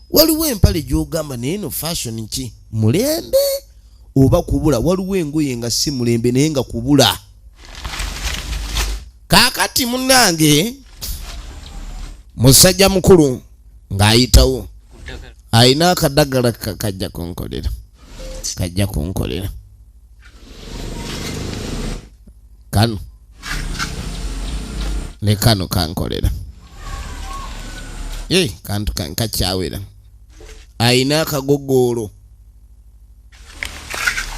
Waliwo empale gy'ogamba naye no fashion ki? Mulembe oba kubula? Waliwo engoye nga si mulembe naye nga kubula. Kaakati munnange musajja mukulu ng'ayitawo alina akadagala kajja kunkolera kajja kunkolera kano ne kano kankolera e kantu kankakyawera ayina akagogoolo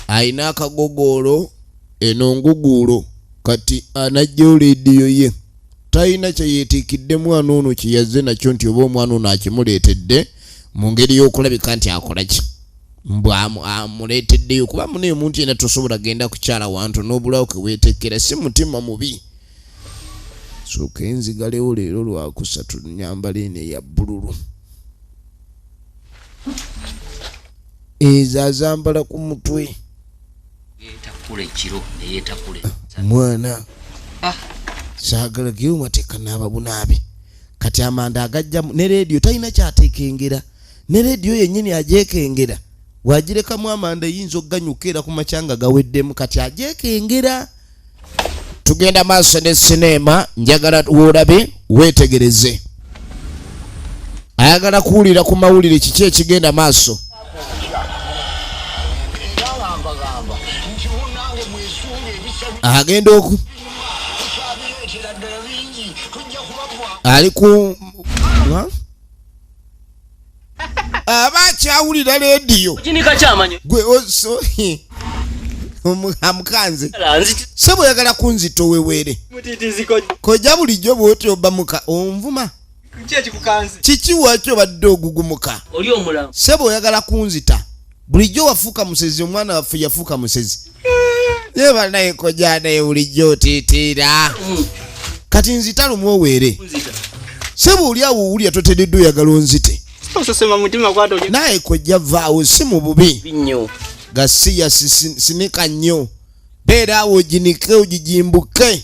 ayina akagogoolo eno nguguulo kati anajjawo leediyo ye talina kyeyeetiikidde mwana ono kyeyazze nakyo nti oba omwana ono akimuleetedde mu ngeri y'okulabika nti akola ki mbu amuleeteddeyo kuba mune omuntu yena tosobola genda kukyala wantu n'obulawo keweetekkera si mutima mubi sooka enzigalewo leero lwakusatu nyambala eno eya bbululu ezo azambala ku mutwe mwana ah. saagala geyo mateeka naababunaabe kati amanda agajjamu ne leediyo talina kyateekengera ne leediyo yennyini agyekengera wagirekamu amanda eyinza okuganyuka era ku makyanga gaweddemu kati agyekengera tugenda maaso ne sineema njagala woolabe weetegereze ayagala kuwulira ku mawulire kiki ekigenda maaso agenda oku ali ku aba akyawulira leediyo gwe oso amukanze se bweyagala kunzita oweweere koja bulijjo bwoti obamuka onvuma kiki wakyo obadde ogugumuka se bweyagala kunzita bulijjo wafuuka musezi omwana waffe yafuuka musezi naye banaye koja naye bulijjo otitiira mm. kati nzita lumu oweere seba oli awo owulira totededde oyagala onzite naye koja vaawo si mu bubi gasiya sinika nnyo beera awo oginike ogijimbuke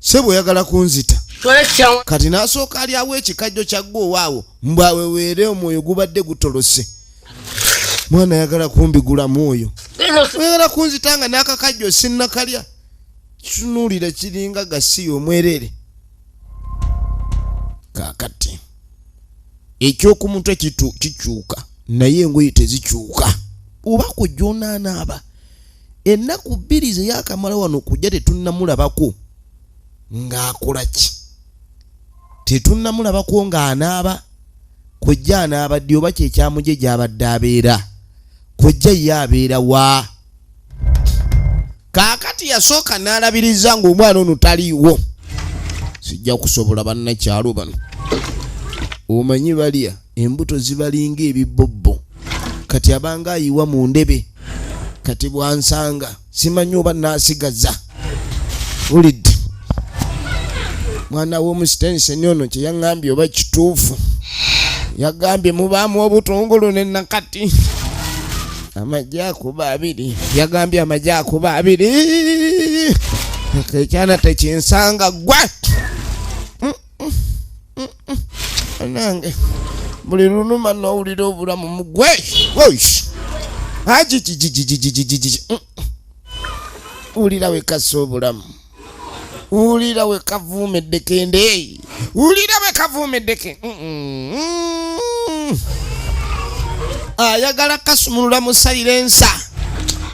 sebo oyagala kunzita kati nasooka alyawo ekikajjo kyagga owaawo mbwaweweere omwoyo gubadde gutolose mwana ayagala kumbigulamu oyo oyagala kunzita nga nakakajjo sinnakalya kitunulira kiringa gasiya omwereere kakati ekyokumutwe kikyuka naye engoye tezikyuka oba kujunanaaba ennaku bbiri ze yakamala wano kujja tetunnamulabako ng'akola ki tetunnamulabako ng'anaaba kojja anaaba ddi oba kyekyamuje gy'abadde abeera kojja ye abeera wa kaakati yasooka n'alabiriza ng'omwana ono taliiwo sijja kusobola bannakyalo bano omanyi balya embuto zibalinga ebibbobbo kati abanga ayiwa mu ndebe kati bwansanga simanyi oba nasigaza ulidde mwana womusitenseni ono kyeyaŋambye oba kituufu yagambye mubaamu obutungulu nenakati amagye akuba abiri yagambye amagye akuba abiri ekyana tekinsanga gwa nange buli lunuma nowulira obulamu mugwe ajijijijijijijiji wulira wekasa obulamu wulira wekavuumeddeke ndeeyi wulira wekavuumeddeke ayagala kasumulula musalira ensa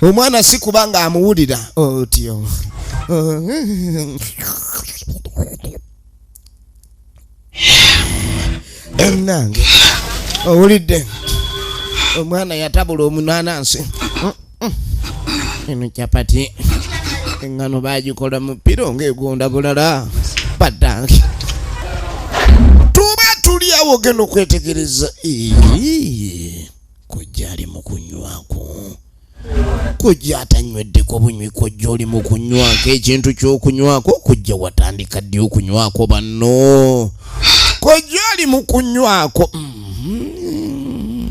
omwana si kubanga amuwulira otyo oh, munange owulidde omwana yatabula omunanansi eno capati engano bagikola mu piro ngaegonda bulala badange tuba tuli awo genda okwetegereza kujjali mukunywaku kojja atanyweddeko bunywi kojja oli mu kunywako ekintu ky'okunywako kojja watandika ddi okunywako banno kojja ali mu kunywako mm -hmm.